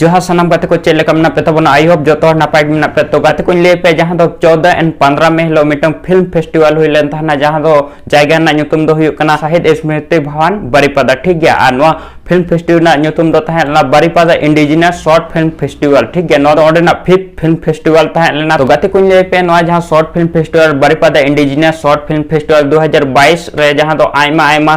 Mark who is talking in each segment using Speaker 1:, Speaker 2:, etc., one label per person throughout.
Speaker 1: ᱡᱚᱦᱟᱨ ᱥᱟᱱᱟᱢ ᱜᱟᱛᱮ ᱠᱚ ᱪᱮᱫ ᱞᱮᱠᱟ ᱢᱮᱱᱟᱜ ᱯᱮ ᱛᱟᱵᱚᱱᱟ ᱟᱭ ᱦᱳᱯ ᱡᱚᱛᱚ ᱦᱚᱲ ᱱᱟᱯᱟᱭ ᱜᱮ ᱢᱮᱱᱟᱜ ᱯᱮ ᱛᱚ ᱜᱟᱛᱮ ᱠᱚᱧ ᱞᱟᱹᱭ ᱯᱮ ᱡᱟᱦᱟᱸ ᱫᱚ 14 ᱮᱱ 15 ᱢᱮ ᱦᱤᱞᱳᱜ ᱢᱤᱫᱴᱟᱝ ᱯᱷᱤᱞᱢ ᱯᱷᱮᱥᱴᱤᱵᱷᱟᱞ ᱦᱩᱭ ᱞᱮᱱ ᱛᱟᱦᱮᱱᱟ ᱡᱟᱦᱟᱸ ᱫᱚ ᱡᱟᱭᱜᱟ ᱨᱮᱱᱟᱜ ᱧᱩᱛᱩᱢ ᱫᱚ ᱦᱩᱭᱩᱜ ᱠᱟᱱᱟ ᱥᱟᱦᱤᱫ ᱥᱢᱨᱤᱛᱤ ᱵᱷᱟᱣᱟᱱ ᱵᱟᱨᱤᱯᱟᱫᱟ ᱴᱷᱤᱠ ᱜᱮᱭᱟ ᱟᱨ ᱱᱚᱣᱟ ᱯᱷᱤᱞᱢ ᱯᱷᱮᱥᱴᱤᱵᱷᱟᱞ ᱨᱮᱱᱟᱜ ᱧᱩᱛᱩᱢ ᱫᱚ ᱛᱟᱦᱮᱸ ᱞᱮᱱᱟ Baripada indigenous short film festival ᱴᱷᱤᱠ ᱜᱮᱭᱟ ᱱᱚᱣᱟ ᱫᱚ ᱚᱸᱰᱮᱱᱟᱜ ᱯᱷᱤᱯ ᱯᱷᱤᱞᱢ ᱯᱷᱮᱥᱴᱤᱵᱷᱟᱞ ᱛᱟᱦᱮᱸ ᱞᱮᱱᱟ ᱛᱚ ᱜᱟᱛᱮ ᱠᱚᱧ ᱞᱟᱹᱭ ᱯᱮ ᱱᱚᱣᱟ ᱡᱟᱦᱟᱸ short film festival Baripada indigenous short film festival 2022 ᱨᱮ ᱡᱟᱦᱟᱸ ᱫᱚ ᱟᱭᱢᱟ ᱟᱭᱢᱟ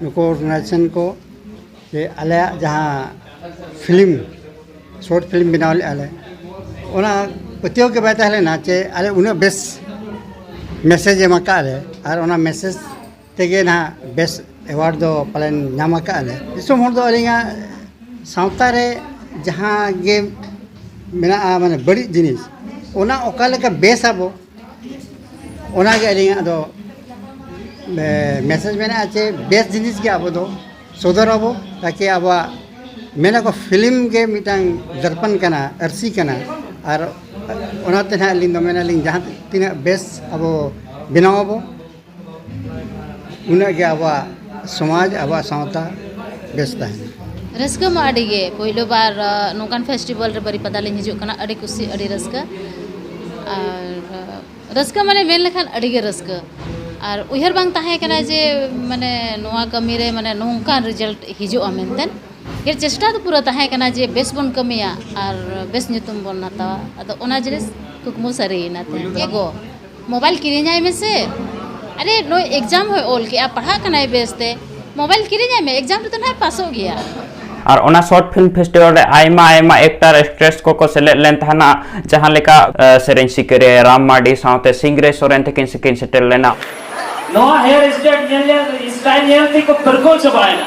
Speaker 1: ᱱᱩᱠᱩ ᱱᱟᱪᱚᱱ ᱠᱚ ᱥᱮ ᱟᱞᱮᱭᱟᱜ ᱡᱟᱦᱟᱸ ᱯᱷᱤᱞᱢ ᱥᱚᱨᱴ ᱯᱷᱤᱞᱢ ᱵᱮᱱᱟᱣ ᱞᱮᱜᱼᱟ ᱞᱮ ᱚᱱᱟ ᱯᱟᱹᱛᱭᱟᱹᱣ ᱜᱮ ᱵᱟᱭ ᱛᱟᱦᱮᱸ ᱞᱮᱱᱟ ᱡᱮ ᱟᱞᱮ ᱩᱱᱟᱹᱜ ᱵᱮᱥ ᱢᱮᱥᱮᱡᱽ ᱮᱢ ᱟᱠᱟᱫ ᱞᱮ ᱟᱨ ᱚᱱᱟ ᱢᱮᱥᱮᱡᱽ ᱛᱮᱜᱮ ᱱᱟᱦᱟᱜ ᱵᱮᱥ ᱮᱣᱟᱨᱰ ᱫᱚ ᱯᱟᱞᱮᱱ ᱧᱟᱢ ᱟᱠᱟᱫ ᱞᱮ ᱫᱤᱥᱚᱢ ᱦᱚᱲ ᱫᱚ ᱟᱹᱞᱤᱧᱟᱜ ᱥᱟᱶᱛᱟ ᱨᱮ ᱡᱟᱦᱟᱸ ᱜᱮ ᱢᱮᱱᱟᱜᱼᱟ ᱢᱟᱱᱮ ᱵᱟᱹᱲᱤᱡ ᱡᱤᱱᱤᱥ ᱚᱱᱟ ᱚᱠᱟ ᱞᱮᱠᱟ ᱵᱮᱥ ᱟᱵᱚ ᱚᱱᱟᱜᱮ ᱟᱹᱞᱤᱧᱟᱜ ᱫᱚ ᱢᱮᱥᱮᱡᱽ ᱢᱮᱱᱟᱜᱼᱟ ᱡᱮ ᱵᱮᱥ ᱡᱤᱱᱤᱥ ᱜᱮ ᱟᱵᱚ ᱫᱚ ᱥᱚᱫᱚᱨ ᱟᱵᱚ ᱛᱟᱠᱤ ᱟᱵᱚᱣᱟᱜ ᱢᱮᱱᱟᱠᱚ ᱯᱷᱤᱞᱢ ᱜᱮ ᱢᱤᱫᱴᱟᱝ ᱫᱚᱨᱯᱚᱱ ᱠᱟᱱᱟ ᱟᱹᱨᱥᱤ ᱠᱟᱱᱟ ᱟᱨ ᱚᱱᱟᱛᱮ ᱦᱟᱸᱜ ᱟᱹᱞᱤᱧ ᱫᱚ ᱢᱮᱱᱟᱞᱤᱧ ᱡᱟᱦᱟᱸ ᱛᱤᱱᱟᱹᱜ ᱵᱮᱥ ᱟᱵᱚ ᱵᱮᱱᱟᱣ ᱟᱵᱚ ᱩᱱᱟᱹᱜ ᱜᱮ ᱟᱵᱚᱣᱟᱜ ᱥᱚᱢᱟᱡᱽ ᱟᱵᱚᱣᱟᱜ ᱥᱟᱶᱛᱟ ᱵᱮᱥ ᱛᱟᱦᱮᱱᱟ ᱨᱟᱹᱥᱠᱟᱹ ᱢᱟ ᱟᱹᱰᱤ ᱜᱮ ᱯᱳᱭᱞᱳ ᱵᱟᱨ ᱱᱚᱝᱠᱟᱱ ᱯᱷᱮᱥᱴᱤᱵᱷᱮᱞ ᱨᱮ ᱵᱟᱹᱨᱤᱯᱟᱫᱟ ᱞᱤᱧ ᱦᱤᱡᱩᱜ ᱠᱟᱱᱟ ᱟᱹᱰᱤ ᱠᱩᱥᱤ ᱟᱹᱰᱤ ᱨᱟᱹᱥᱠᱟᱹ ᱟᱨ ᱨᱟᱹᱥᱠᱟᱹ ᱢᱟᱱᱮ ᱢᱮᱱ ᱞᱮᱠᱷᱟᱱ ᱟᱹᱰᱤ ᱜᱮ ᱨᱟᱹᱥᱠᱟᱹ ᱟᱨ ᱩᱭᱦᱟᱹᱨ ᱵᱟᱝ ᱛᱟᱦᱮᱸ ᱠᱟᱱᱟ ᱡᱮ ᱢᱟᱱᱮ ᱱᱚᱣᱟ ᱠᱟᱹᱢᱤ ᱨᱮ ᱢᱟᱱᱮ ᱱᱚᱝᱠᱟᱱ ᱨᱮᱡᱟᱞᱴ ᱦᱤᱡᱩᱜᱼᱟ ᱢᱮᱱᱛᱮ ᱡᱮ ᱪᱮᱥᱴᱟ ᱫᱚ ᱯᱩᱨᱟᱹ ᱛᱟᱦᱮᱸ ᱠᱟᱱᱟ ᱡᱮ ᱵᱮᱥ ᱵᱚᱱ ᱠᱟᱹᱢᱤᱭᱟ ᱟᱨ ᱵᱮᱥ ᱧᱩᱛᱩᱢ ᱵᱚᱱ ᱦᱟᱛᱟᱣᱟ ᱟᱫᱚ ᱚᱱᱟ ᱡᱤᱱᱤᱥ ᱠᱩᱠᱢᱩ ᱥᱟᱹᱨᱤᱭᱮᱱᱟ ᱛᱮᱦᱮᱧ ᱮᱜᱳ ᱢᱳᱵᱟᱭᱤᱞ ᱠᱤᱨᱤᱧᱟᱭ ᱢᱮᱥᱮ ᱟᱨᱮ ᱱᱩᱭ ᱮᱠᱡᱟᱢ ᱦᱚᱸᱭ ᱚᱞ ᱠᱮᱜᱼᱟ ᱯᱟᱲᱦᱟᱜ ᱠᱟᱱᱟᱭ ᱵᱮᱥᱛᱮ ᱢᱳᱵᱟᱭᱤᱞ ᱠᱤᱨᱤᱧᱟᱭ ᱢᱮ ᱮᱠᱡᱟᱢ ᱨᱮᱫᱚ ᱱᱟᱦᱟᱜ ᱯᱟᱥᱚᱜ ᱜᱮᱭᱟ ᱟᱨ ᱚᱱᱟ ᱥᱚᱨᱴ ᱯᱷᱤᱞᱢ ᱯᱷᱮᱥᱴᱤᱵᱷᱟᱞ ᱨᱮ ᱟᱭᱢᱟ ᱟᱭᱢᱟ ᱮᱠᱴᱟᱨ ᱮᱠᱴᱨᱮᱥ ᱠᱚᱠᱚ ᱥᱮᱞᱮᱫ ᱞᱮᱱ ᱛᱟᱦᱮᱱᱟ ᱡᱟᱦᱟᱸ ᱞᱮᱠᱟ ᱥᱮᱨᱮᱧ ᱥᱤᱠᱟᱹᱨᱤᱭᱟᱹ ᱨᱟᱢ ᱢᱟᱨᱰᱤ ᱥᱟᱶᱛᱮ ᱥᱤᱝᱨᱮ ᱥᱚᱨᱮᱱ ᱛᱟᱹᱠᱤᱱ ᱥᱤᱠᱤᱱ ᱥᱮᱴᱮᱨ ᱞᱮᱱᱟ ᱱᱚᱣᱟ ᱦᱮᱭᱟᱨ ᱥᱴᱟᱭᱤᱞ ᱧᱮᱞ ᱧᱮᱞ ᱥᱴᱟᱭᱤᱞ ᱧᱮᱞ ᱛᱮᱠᱚ ᱯᱟᱹᱨᱠᱟᱹᱣ ᱪᱟᱵᱟᱭᱮᱱᱟ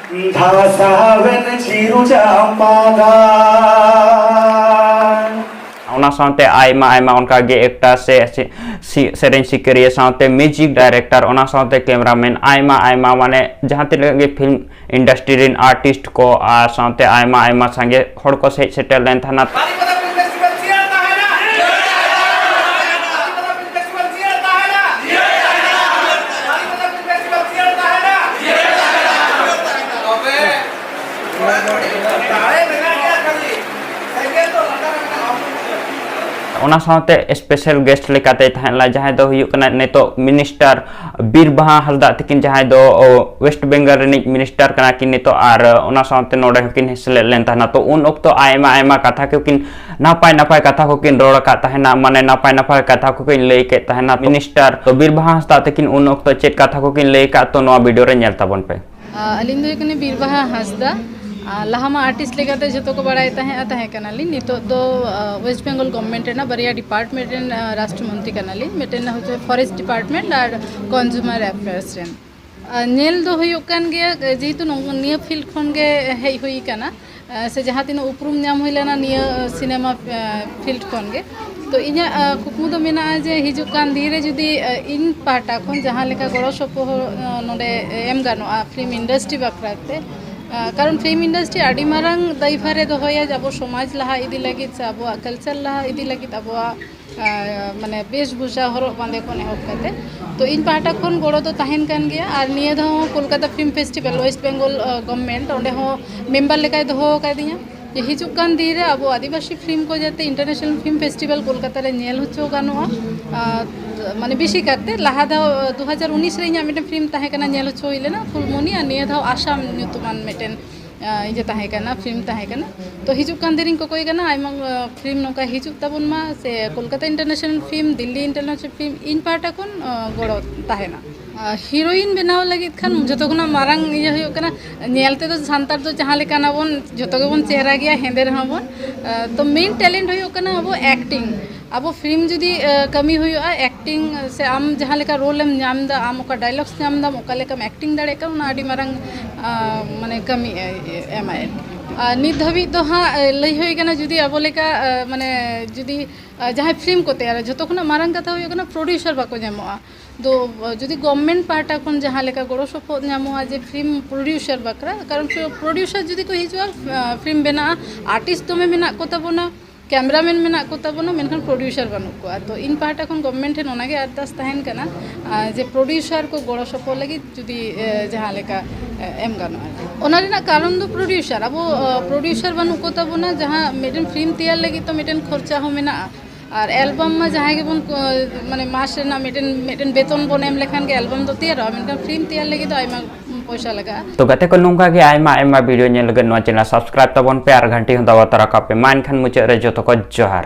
Speaker 1: ᱚᱱᱟ ᱥᱟᱶᱛᱮ ᱟᱭᱢᱟ ᱟᱭᱢᱟ ᱚᱱᱠᱟ ᱜᱮ ᱮᱠᱴᱟᱨ ᱥᱮ ᱥᱮᱨᱮᱧ ᱥᱤᱠᱟᱹᱨᱤᱭᱟᱹ ᱥᱟᱶᱛᱮ ᱢᱤᱭᱩᱡᱤᱠ ᱰᱟᱭᱨᱮᱠᱴᱟᱨ ᱚᱱᱟ ᱥᱟᱶᱛᱮ ᱠᱮᱢᱮᱨᱟᱢᱮᱱ ᱟᱭᱢᱟ ᱟᱭᱢᱟ ᱢᱟᱱᱮ ᱡᱟᱦᱟᱸ ᱛᱤᱱᱟᱹᱜ ᱜᱮ ᱯᱷᱤᱞᱢ ᱤᱱᱰᱟᱥᱴᱨᱤ ᱨᱮᱱ ᱟᱨᱴᱤᱥᱴ ᱠᱚ ᱟᱨ ᱥᱟᱶᱛᱮ ᱟᱭᱢᱟ ᱟᱭᱢᱟ ᱥᱟᱸᱜᱮ ᱦᱚᱲ ᱠᱚ ᱥᱮᱡ ᱥᱮᱴᱮᱨ ᱞᱮᱱ ᱛᱟᱦᱮᱱᱟ ᱚᱱᱟ ᱥᱟᱶᱛᱮ ᱥᱯᱮᱥᱟᱞ ᱜᱮᱥᱴ ᱞᱮᱠᱟᱛᱮ ᱛᱟᱦᱮᱸ ᱞᱮᱱᱟ ᱡᱟᱦᱟᱸᱭ ᱫᱚ ᱦᱩᱭᱩᱜ ᱠᱟᱱᱟ ᱱᱤᱛᱚᱜ ᱢᱤᱱᱤᱥᱴᱟᱨ ᱵᱤᱨ ᱵᱟᱦᱟ ᱦᱟᱸᱥᱫᱟᱜ ᱛᱟᱹᱠᱤᱱ ᱡᱟᱦᱟᱸᱭ ᱫᱚ ᱣᱮᱥᱴ ᱵᱮᱝᱜᱚᱞ ᱨᱤᱱᱤᱡ ᱢᱤᱱᱤᱥᱴᱟᱨ ᱠᱟᱱᱟ ᱠᱤᱱ ᱱᱤᱛᱚᱜ ᱟᱨ ᱚᱱᱟ ᱥᱟᱶᱛᱮ ᱱᱚᱰᱮ ᱦᱚᱸᱠᱤᱱ ᱥᱮᱞᱮᱫ ᱞᱮᱱ ᱛᱟᱦᱮᱱᱟ ᱛᱚ ᱩᱱ ᱚᱠᱛᱚ ᱟᱭᱢᱟ ᱟᱭᱢᱟ ᱠᱟᱛᱷᱟ ᱠᱚᱠᱤᱱ ᱱᱟᱯᱟᱭ ᱱᱟᱯᱟᱭ ᱠᱟᱛᱷᱟ ᱠᱚᱠᱤᱱ ᱨᱚᱲ ᱟᱠᱟᱫ ᱛᱟᱦᱮᱱᱟ ᱢᱟᱱᱮ ᱱᱟᱯᱟᱭ ᱱᱟᱯᱟᱭ ᱠᱟᱛᱷᱟ ᱠᱚᱠᱤᱱ ᱞᱟᱹᱭ ᱠᱮᱫ ᱛᱟᱦᱮᱱᱟ ᱢᱤᱱᱤᱥᱴᱟᱨ ᱛᱚ ᱵᱤᱨ ᱵᱟᱦᱟ ᱦᱟᱸᱥᱫᱟᱜ ᱛᱟᱹᱠᱤᱱ ᱩᱱ ᱚᱠᱛᱚ ᱪᱮᱫ ᱠᱟᱛᱷᱟ ᱠᱚᱠᱤᱱ ᱞᱟᱹᱭ ᱟᱠᱟᱫ ᱛᱚ ᱱᱚᱣᱟ ᱵᱷᱤᱰᱤᱭᱳ ᱨᱮ ᱧᱮᱞ ᱛᱟᱵᱚᱱ ᱯᱮ ᱟᱹᱞᱤᱧ ᱫᱚ ᱦᱩᱭᱩᱜ ᱠᱟᱱᱟ ᱵᱤᱨᱵᱟᱦᱟ ᱦᱟᱸᱥᱫᱟ ᱞᱟᱦᱟ ᱢᱟ ᱟᱨᱴᱤᱥᱴ ᱞᱮᱠᱟᱛᱮ ᱡᱚᱛᱚ ᱠᱚ ᱵᱟᱲᱟᱭ ᱛᱟᱦᱮᱸᱜᱼᱟ ᱛᱟᱦᱮᱸ ᱠᱟᱱᱟᱞᱤᱧ ᱱᱤᱛᱚᱜ ᱫᱚ ᱳᱭᱮᱥᱴ ᱵᱮᱝᱜᱚᱞ ᱜᱚᱵᱷᱢᱮᱱᱴ ᱨᱮᱱᱟᱜ ᱵᱟᱨᱭᱟ ᱰᱤᱯᱟᱨᱴᱢᱮᱱᱴ ᱨᱮᱱ ᱨᱟᱥᱴᱨᱚ ᱢᱚᱱᱛᱨᱤ ᱠᱟᱱᱟᱞᱤᱧ ᱢᱤᱫᱴᱮᱱ ᱦᱚᱪᱪᱷᱮ ᱯᱷᱚᱨᱮᱥᱴ ᱰᱤᱯᱟᱨᱴᱢᱮᱱᱴ ᱟᱨ ᱠᱚᱱᱡᱩᱢᱟᱨ ᱮᱯᱷᱮᱭᱟᱨᱥ ᱨᱮᱱ ᱧᱮᱞ ᱫᱚ ᱦᱩᱭᱩᱜ ᱠᱟᱱ ᱜᱮᱭᱟ ᱡᱮᱦᱮᱛᱩ ᱱᱤᱭᱟᱹ ᱯᱷᱤᱞᱰ ᱠᱷᱚᱱᱜᱮ ᱦᱮᱡ ᱦᱩᱭ ᱠᱟᱱᱟ ᱥᱮ ᱡᱟᱦᱟᱸ ᱛᱤᱱᱟᱹᱜ ᱩᱯᱨᱩᱢ ᱧᱟᱢ ᱦᱩᱭ ᱞᱮᱱᱟ ᱱᱤᱭᱟᱹ ᱥᱤᱱᱮᱢᱟ ᱯᱷᱤᱞᱰ ᱠᱷᱚᱱ ᱜᱮ ᱛᱚ ᱤᱧᱟᱹᱜ ᱠᱩᱠᱢᱩ ᱫᱚ ᱢᱮᱱᱟᱜᱼᱟ ᱡᱮ ᱦᱤᱡᱩᱜ ᱠᱟᱱ ᱫᱤᱱ ᱨᱮ ᱡᱩᱫᱤ ᱤᱧ ᱯᱟᱦᱴᱟ ᱠᱷᱚᱱ ᱡᱟᱦᱟᱸ ᱞᱮᱠᱟ ᱜᱚᱲᱚ ᱥᱚᱯᱚᱦᱚᱫ ᱱᱚᱰᱮ ᱮᱢ ᱜᱟᱱᱚᱜᱼᱟ ᱯᱷᱤᱞᱢ ᱤᱱᱰᱟᱥᱴᱨᱤ ᱵᱟᱠᱷᱨᱟ ᱛᱮ ᱠᱟᱨᱚᱱ ᱯᱷᱤᱞᱢ ᱤᱱᱰᱟᱥᱴᱨᱤ ᱟᱹᱰᱤ ᱢᱟᱨᱟᱝ ᱫᱟᱭᱵᱷᱟᱨᱮ ᱫᱚᱦᱚᱭᱟ ᱟᱵᱚ ᱥᱚᱢᱟᱡᱽ ᱞᱟᱦᱟ ᱤᱫᱤ ᱞᱟᱹᱜᱤᱫ ᱥᱮ ᱟᱵᱚᱣᱟᱜ ᱠᱟᱞᱪᱟᱨ ᱞᱟᱦᱟ ᱤᱫᱤ ᱞᱟᱹᱜᱤᱫ ᱟᱵᱚᱣᱟᱜ ᱢᱟᱱᱮ ᱵᱮᱥᱵᱷᱩᱥᱟ ᱦᱚᱨᱚᱜ ᱵᱟᱸᱫᱮ ᱠᱷᱚᱱ ᱮᱦᱚᱵ ᱠᱟᱛᱮ ᱛᱚ ᱤᱧ ᱯᱟᱦᱴᱟ ᱠᱷᱚᱱ ᱜᱚᱲᱚ ᱫᱚ ᱛᱟᱦᱮᱱ ᱠᱟᱱ ᱜᱮᱭᱟ ᱟᱨ ᱱᱤᱭᱟᱹ ᱫᱷᱟᱣ ᱦᱚᱸ Kolkata film festival West Bengal government ᱚᱸᱰᱮ ᱦᱚᱸ ᱢᱮᱢᱵᱟᱨ ᱞᱮᱠᱟᱭ ᱫᱚᱦᱚ ᱟᱠᱟᱫᱤᱧᱟ ᱡᱮ ᱦᱤᱡᱩᱜ ᱠᱟᱱ ᱫᱤᱱ ᱨᱮ ᱟᱵᱚ ᱟᱹᱫᱤᱵᱟᱹᱥᱤ ᱯᱷᱤᱞᱢ ᱠᱚ ᱡᱟᱛᱮ ᱤᱱᱴᱟᱨᱱᱮᱥᱱᱟᱞ ᱯᱷᱤᱞᱢ ᱯᱷᱮᱥᱴᱤᱵᱷᱮᱞ ᱠᱳᱞᱠᱟᱛᱟ ᱨᱮ ᱧᱮᱞ ᱦᱚᱪᱚ ᱜᱟᱱᱚᱜᱼᱟ ᱢᱟᱱᱮ ᱵᱮᱥᱤ ᱠᱟᱛᱮ ᱞᱟᱦᱟ ᱫᱷᱟᱣ ᱫᱩ ᱦᱟᱡᱟᱨ ᱩᱱᱤᱥ ᱨᱮ ᱤᱧᱟᱹᱜ ᱢᱤᱫᱴᱮᱱ ᱯᱷᱤᱞᱢ ᱛᱟᱦᱮᱸ ᱠᱟᱱᱟ ᱧᱮᱞ ᱦᱚᱪᱚ ᱦᱩᱭ ᱞᱮᱱᱟ ᱯᱷᱩᱞᱢᱚᱱᱤ ᱟᱨ ᱱᱤᱭᱟᱹ ᱫᱷᱟᱣ ᱟᱥᱟᱢ ᱧᱩᱛᱩᱢᱟᱱ ᱢᱤᱫᱴᱮᱱ ᱤᱭᱟᱹ ᱛᱟᱦᱮᱸ ᱠᱟᱱᱟ ᱯᱷᱤᱞᱢ ᱛᱟᱦᱮᱸ ᱠᱟᱱᱟ ᱛᱚ ᱦᱤᱡᱩᱜ ᱠᱟᱱ ᱫᱤᱱᱤᱧ ᱠᱚᱠᱚᱭ ᱠᱟᱱᱟ ᱟᱭᱢᱟ ᱯᱷᱤᱞᱢ ᱱᱚᱝᱠᱟ ᱦᱤᱡᱩᱜ ᱛᱟᱵᱚᱱ ᱢᱟ ᱥᱮ Kolkata international film Delhi international film ᱤᱧ ᱯᱟᱦᱴᱟ ᱠᱷᱚᱱ ᱜᱚᱲᱚ ᱛᱟᱦᱮᱱᱟ ᱦᱤᱨᱳᱭᱤᱱ ᱵᱮᱱᱟᱣ ᱞᱟᱹᱜᱤᱫ ᱠᱷᱟᱱ ᱡᱚᱛᱚ ᱠᱷᱚᱱᱟᱜ ᱢᱟᱨᱟᱝ ᱤᱭᱟᱹ ᱦᱩᱭᱩᱜ ᱠᱟᱱᱟ ᱧᱮᱞ ᱛᱮᱫᱚ ᱥᱟᱱᱛᱟᱲ ᱫᱚ ᱡᱟᱦᱟᱸ ᱞᱮᱠᱟᱱᱟ ᱵᱚᱱ ᱡᱚᱛᱚ ᱜᱮᱵᱚᱱ ᱪᱮᱦᱨᱟ ᱜᱮᱭᱟ ᱦᱮᱸᱫᱮ ᱨᱮᱦᱚᱸ ᱵᱚᱱ ᱛᱚ ᱢᱮᱱ ᱴᱮᱞᱮᱱᱴ ᱦᱩᱭᱩᱜ ᱠᱟᱱᱟ ᱟᱵᱚ ᱮᱠᱴᱤᱝ ᱟᱵᱚ ᱯᱷᱤᱞᱢ ᱡᱩᱫᱤ ᱠᱟᱹᱢᱤ ᱦᱩᱭᱩᱜᱼᱟ ᱮᱠᱴᱤᱝ ᱥᱮ ᱟᱢ ᱡᱟᱦᱟᱸ ᱞᱮᱠᱟ ᱨᱳᱞ ᱮᱢ ᱧᱟᱢ ᱫᱟ ᱟᱢ ᱚᱠᱟ ᱰᱟᱭᱞᱚᱜᱥ ᱧᱟᱢ ᱫᱟᱢ ᱚᱠᱟ ᱞᱮᱠᱟᱢ ᱮᱠᱴᱤᱝ ᱫᱟᱲᱮᱭᱟᱜ ᱠᱟᱱᱟ ᱚᱱᱟ ᱟᱹᱰᱤ ᱢᱟᱨᱟᱝ ᱢᱟᱱᱮ ᱠᱟᱹᱢᱤ ᱮᱢᱟᱭ ᱟᱨ ᱱᱤᱛ ᱫᱷᱟᱹᱵᱤᱡ ᱫᱚ ᱦᱟᱸᱜ ᱞᱟᱹᱭ ᱦᱩᱭ ᱠᱟᱱᱟ ᱡᱩᱫᱤ ᱟᱵᱚ ᱞᱮᱠᱟ ᱢᱟᱱᱮ ᱡᱩᱫᱤ ᱡᱟᱦᱟᱸᱭ ᱯᱷᱤᱞᱢ ᱠᱚ ᱛᱮᱭᱟᱨᱟ ᱡᱷᱚᱛᱚ ᱠᱷᱚᱱᱟᱜ ᱢᱟᱨᱟᱝ ᱠᱟᱛᱷᱟ ᱦᱩᱭᱩᱜ ᱠᱟᱱᱟ ᱯᱨᱚᱰᱭᱩᱥᱟᱨ ᱵᱟᱠᱚ ᱧᱟᱢᱚᱜᱼᱟ ᱫᱚ ᱡᱩᱫᱤ ᱜᱚᱵᱷᱢᱮᱱᱴ ᱯᱟᱦᱴᱟ ᱠᱷᱚᱱ ᱡᱟᱦᱟᱸ ᱞᱮᱠᱟ ᱜᱚᱲᱚ ᱥᱚᱯᱚᱦᱚᱫ ᱧᱟᱢᱚᱜᱼᱟ ᱡᱮ ᱯᱷᱤᱞᱢ ᱯᱨᱚᱰᱭᱩᱥᱟᱨ ᱵᱟᱠᱷᱨᱟ ᱠᱟᱨᱚᱱ ᱯᱨᱚᱰᱭᱩᱥᱟᱨ ᱡᱩᱫᱤ ᱠᱚ ᱦᱤᱡᱩᱜᱼᱟ ᱯᱷᱤᱞᱢ ᱵᱮᱱᱟᱜᱼᱟ ᱟᱨᱴᱤᱥᱴ ᱫᱚᱢᱮ ᱢᱮᱱᱟᱜ ᱠᱚᱛᱟ ᱵᱚᱱᱟ ᱠᱮᱢᱮᱨᱟ ᱢᱮᱱ ᱢᱮᱱᱟᱜ ᱠᱚ ᱛᱟᱵᱚᱱᱟ ᱢᱮᱱᱠᱷᱟᱱ ᱯᱨᱚᱰᱭᱩᱥᱟᱨ ᱵᱟᱹᱱᱩᱜ ᱠᱚᱣᱟ ᱛᱚ ᱤᱧ ᱯᱟᱦᱴᱟ ᱠᱷᱚᱱ ᱜᱚᱵᱷᱢᱮᱱᱴ ᱴᱷᱮᱱ ᱚᱱᱟᱜᱮ ᱟᱨᱫᱟᱥ ᱛᱟᱦᱮᱱ ᱠᱟᱱᱟ ᱡᱮ ᱯᱨᱚᱰᱭᱩᱥᱟᱨ ᱠᱚ ᱜᱚᱲᱚ ᱥᱚᱯᱚᱦᱚᱫ ᱞᱟᱹᱜᱤᱫ ᱡᱩᱫᱤ ᱡᱟᱦᱟᱸ ᱞᱮᱠᱟ ᱮᱢ ᱜᱟᱱᱚᱜᱼᱟ ᱚᱱᱟ ᱨᱮᱱᱟᱜ ᱠᱟᱨᱚᱱ ᱫᱚ ᱯᱨᱚᱰᱭᱩᱥᱟᱨ ᱟᱵᱚ ᱯᱨᱚᱰᱭᱩᱥᱟᱨ ᱵᱟᱹᱱᱩᱜ ᱠᱚ ᱛᱟᱵᱚᱱᱟ ᱡᱟᱦᱟᱸ ᱢᱤᱫᱴᱮᱱ ᱯᱷᱤᱞᱢ ᱛᱮᱭᱟᱨ ᱞᱟᱹᱜᱤᱫ ᱛᱚ ᱢᱤᱫᱴᱮᱱ ᱠᱷᱚᱨᱪᱟ ᱦᱚᱸ ᱢᱮᱱᱟᱜᱼᱟ ᱟᱨ ᱮᱞᱵᱟᱢ ᱢᱟ ᱡᱟᱦᱟᱸᱭ ᱜᱮᱵᱚᱱ ᱢᱟᱱᱮ ᱢᱟᱥ ᱨᱮᱱᱟᱜ ᱢᱤᱫᱴᱮᱱ ᱢᱤᱫᱴᱮᱱ ᱵᱮᱛᱚᱱ ᱵᱚᱱ ᱮᱢ ᱞᱮᱠᱷᱟᱱ ᱜᱮ ᱮᱞᱵᱟᱢ ᱫᱚ ᱛᱮᱭᱟᱨᱚᱜᱼᱟ ᱢᱮᱱᱠᱷᱟᱱ ᱯᱷᱤᱞᱢ ᱛᱮᱭᱟᱨ ᱞᱟᱹᱜᱤᱫ ᱫᱚ ᱟᱭᱢᱟ ᱯᱚᱭᱥᱟ ᱞᱟᱜᱟᱜᱼᱟ ᱛᱚ ᱜᱟᱛᱮ ᱠᱚ ᱱᱚᱝᱠᱟ ᱜᱮ ᱟᱭᱢᱟ ᱟᱭᱢᱟ ᱵᱷᱤᱰᱤᱭᱳ ᱧᱮᱞ ᱞᱟᱹᱜᱤᱫ ᱱᱚᱣᱟ ᱪᱮᱱᱮᱞ ᱥᱟᱵᱥᱠᱨᱟᱭᱤᱵ ᱛᱟᱵᱚᱱ ᱯᱮ ᱟᱨ ᱜᱷᱟᱱᱴᱤ ᱦᱚᱸ ᱫᱟᱵᱟᱣ ᱛᱚᱨᱟ ᱠᱟᱜ ᱯᱮ ᱢᱟ ᱮᱱᱠᱷᱟᱱ ᱢᱩᱪᱟᱹᱫ ᱨᱮ ᱡᱚᱛᱚ ᱠᱚ ᱡᱚᱦᱟᱨ